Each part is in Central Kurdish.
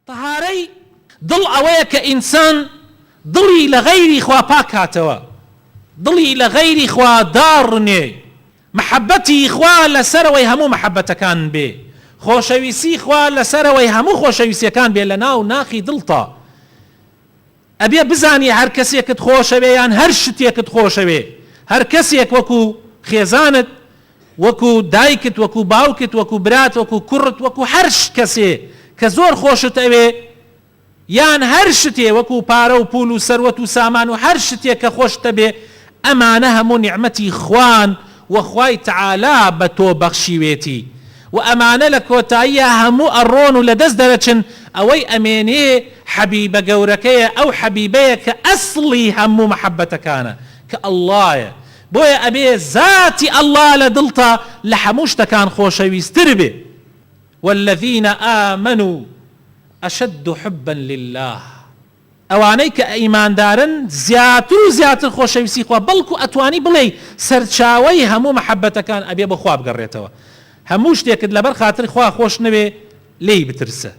تەهارەی دڵ ئەوەیە کە ئینسان دڵی لە غەیری خوا پاک کاتەوە، دڵی لە غەیری خوا داڕمێ، مەحەبەتی خوا لە سەرەوەی هەموو مەحەبەتەکان بێ، خۆشەویستی خوا لە سەرەوەی هەموو خۆشەویستیەکان بێ لە ناو ناخی دڵتا. ئەبێ بزانی هەر کەسێکت خۆشەوێ یان هەر شتێکت خۆشەوێ هەر کەسێک وەکو خێزانت وەکو دایکت وەکو باوکت وەکو برات وەکو کوڕت وەکو هەر کەسێ کە زۆر خۆشت ئەوێ یان هەر شتێ وەکو پارە و پول و سەروەت و سامان و هەر شتێک کە خۆشتەبێ ئەمانە هەموو نیعمەتی خوان و خوای تەعالا بە تۆ بەخشیوێتی و ئەمانە لە کۆتاییا هەموو ئەڕۆن و لە دەست دەرەچن، ئەوەی ئەمێنێ حەبیبە گەورەکەیە ئەو حەبیبەیە کە ئەسڵی هەموو مەحەبەتەکانە کە اللەیە بۆیە ئەبێ زاتی اللە لە دڵتا لە هەموو شتەکان خۆشەویستر بێ والذین آمنوا اشد حبا للە. ئەوانەی کە ئیماندارن زیاتر و زیاتر خۆشەویستی خوا بەڵکو ئەتوانی بڵێی سەرچاوەی هەموو مەحەبەتەکان ئەبێ بۆ خوا بگەڕێتەوە هەموو شتێکت لەبەر خاتری خوا خۆش نەوێ لێی بترسە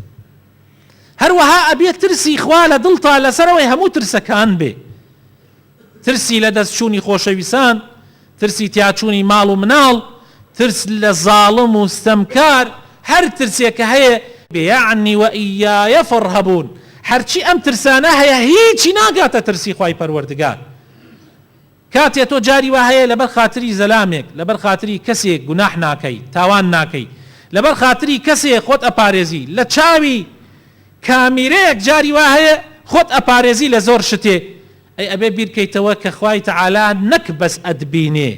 هەروەها ئەبێ ترسی خوا لە دڵتا لەسەرەوەی هەموو ترسەکان بێ. ترسی لە دەست چوونی خۆشەویسان، ترسی تیاچوونی ماڵ و مناڵ، ترس لە زاڵم و ستەمکار، هەر ترسێک کە هەیە، بیعنی واییایە فارهبون، هەرچی ئەم ترسانە هەیە هیچی ناگاتە ترسی خوای پەروەردگار، کاتێ تۆ جاری وا هەیە لەبەر خاتری زەلامێک، لەبەر خاتری کەسێک گوناح ناکەی، تاوان ناکەی، لەبەر خاتری کەسێ خۆت ئەپارێزی لە چاوی، کامیرەیەک جاری وا هەیە خۆت ئەپارێزی لە زۆر شتێ ئەی ئەبێ بیر کەیتەوە کە خوای تەعالا نەک بەس ئەتبینێ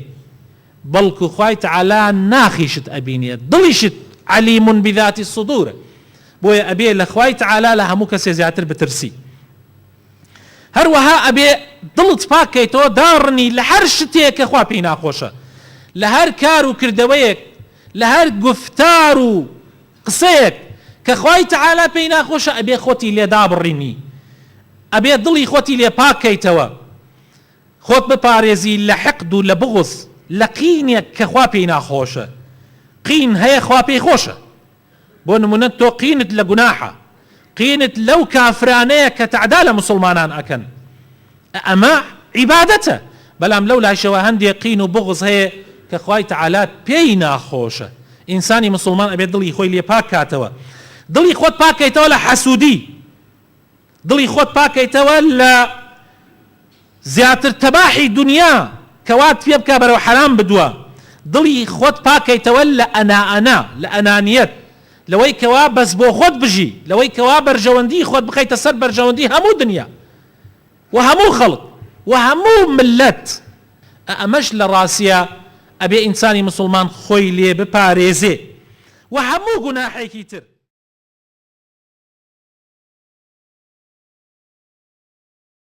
بەڵکو خوای تەعالا ناخیشت ئەبینێ دڵیشت علیم بذات الصدورە بۆیە ئەبێ لە خوای تەعالا لە هەموو کەسێ زیاتر بترسی هەروەها ئەبێ دڵت پاک کەیتەوە داڕنی لە هەر شتێ کە خوا پێی ناخۆشە لە هەر کار و کردەوەیەک لە هەر گوفتار و قسەیەک کە خوای تەعالا پێی ناخۆشە ئەبێ خۆتی لێ دابڕینی ئەبێ دڵی خۆتی لێ پاک کەیتەوە خۆت بپارێزی لە حقد و لە بغض لە قینێک کە خوا پێی ناخۆشە قین هەیە خوا پێی خۆشە بۆ نمونە تۆ قینت لە گوناحە قینت لەو کافرانەیە کە تەعدا لە موسڵمانان ئەکەن ئەمە عیبادەتە، بەلام لەو لایشەوە هەندێ قین و بوغز هەیە کە خوای تعالی پێی ناخۆشە، ئینسانی مسوڵمان ئەبێت دڵی خۆی لێ پاک کاتەوە، دڵی خۆت پاک کەیتەوە لە حەسودی، دڵی خۆت پاک کەیتەوە لە زیاتر تەباحی دونیا کە وات پێ بکا بەرەو حەرام بدوا، دڵی خۆت پاک کەیتەوە لە ئەنا ئەنا، لە ئەنانیەت، لەوەی کەوا بەس بۆ خۆت بژی، لەوەی کەوا بەرژەوەندی خۆت بخەیتە سەر بەرژەوەندی هەموو دونیا، و هەموو خەڵک و هەموو مللەت ئە ئەمەش لە ڕاسیە ئەبێ ئینسانی مسوڵمان خۆی لێ بپارێزێ و هەموو گوناحێکی تر.